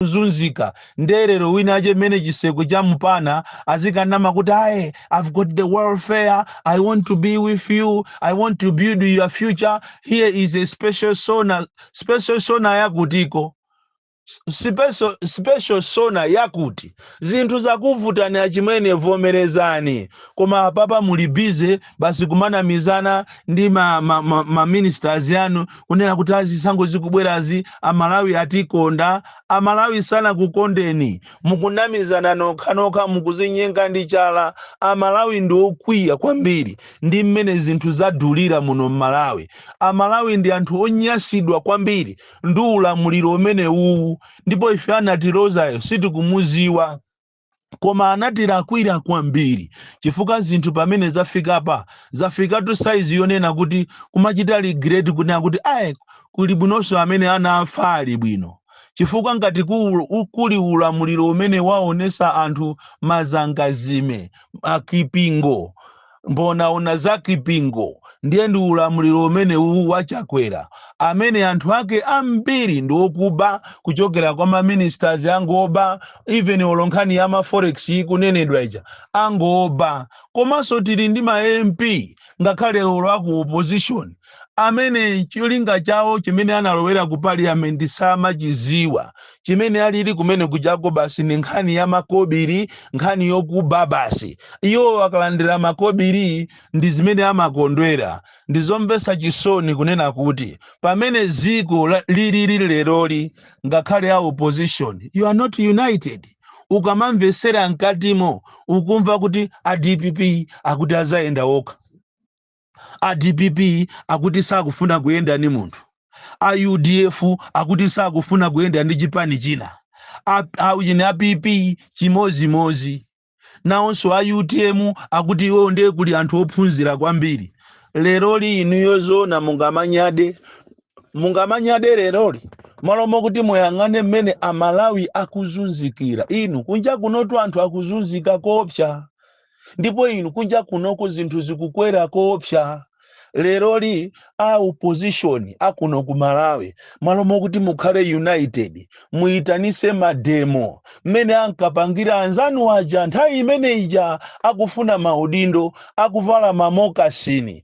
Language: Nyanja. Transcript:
kuzunzika nde lero wina ache mmene chiseko cha mpana azikanama kuti aye i've got the welfare i want to be with you i want to build your future here is a special sona special sona yakutiko special, special sona yakuti zinthu zakuvutani achimwene vomerezani koma apapa muli busy basi kumanamizana ndi ma, ma, ma, ma ministers yanu kunena kuti a zisankho zikubwerazi amalawi atikonda amalawi sanakukondeni mukunamizana nokhanokha mukuzinyenga ndi chala amalawi ndi okwiya kwambiri ndi mmene zinthu zadulira muno mmalawi amalawi ndi anthu onyasidwa kwambiri ndi ulamuliro umene uwu ndipo ife anatilozayo sitikumuziwa koma anatilakwira kwambiri chifukwa zinthu pamene zafikapa zafikatu saizi yonena kuti kumachita regret kunena kuti ayi kuli bwinonso amene anafa ali bwino chifukwa ngati ku- u- kuli ulamuliro umene waonesa anthu mazangazime akipingo Mbonaona za Kipingo ndiye ndi ulamuliro umene uwu wa Chakwera amene anthu ake ambiri ndi okuba kuchokera kwa ma ministers angoba even olo nkhani ya ma forex ikunenedwa ija angoba komanso tili ndi ma MP ngakhale olo aku opposition amene cholinga chawo chimene analowera ku parliament samachiziwa chimene alili kumene kujako basi ni nkhani ya makobiri nkhani yokuba basi iwo akalandira makobiri ndi zimene amakondwera ndizomvesa chisoni kunena kuti pamene ziko la- lilili leroli ngakhale a opposition you are not united ukamamvesera mkatimo ukumva kuti a dpp akuti azayenda okha A dpp akuti sakufuna kuyenda ndi munthu. A udf akuti sakufuna kuyenda ndi chipani china. A, a, ujeni, a PP chimozimozi. Nawonso a utm akuti iwo ndiye kuli anthu ophunzira kwambiri. Leroli inuyo zoona mungamanyade? Mungamanyade leroli? Malo mokuti muyang'ane mmene Amalawi akuzunzikira. Inu, kunja kunotu anthu akuzunzika koopsa. ndipo inu kunja kunoko zinthu zikukwera koopsa leroli a opposition akuno ku malawi malo mokuti mukhale united muyitanise mademo mmene ankapangira anzanu aja nthawi imene ija akufuna maudindo akuvala mamokasini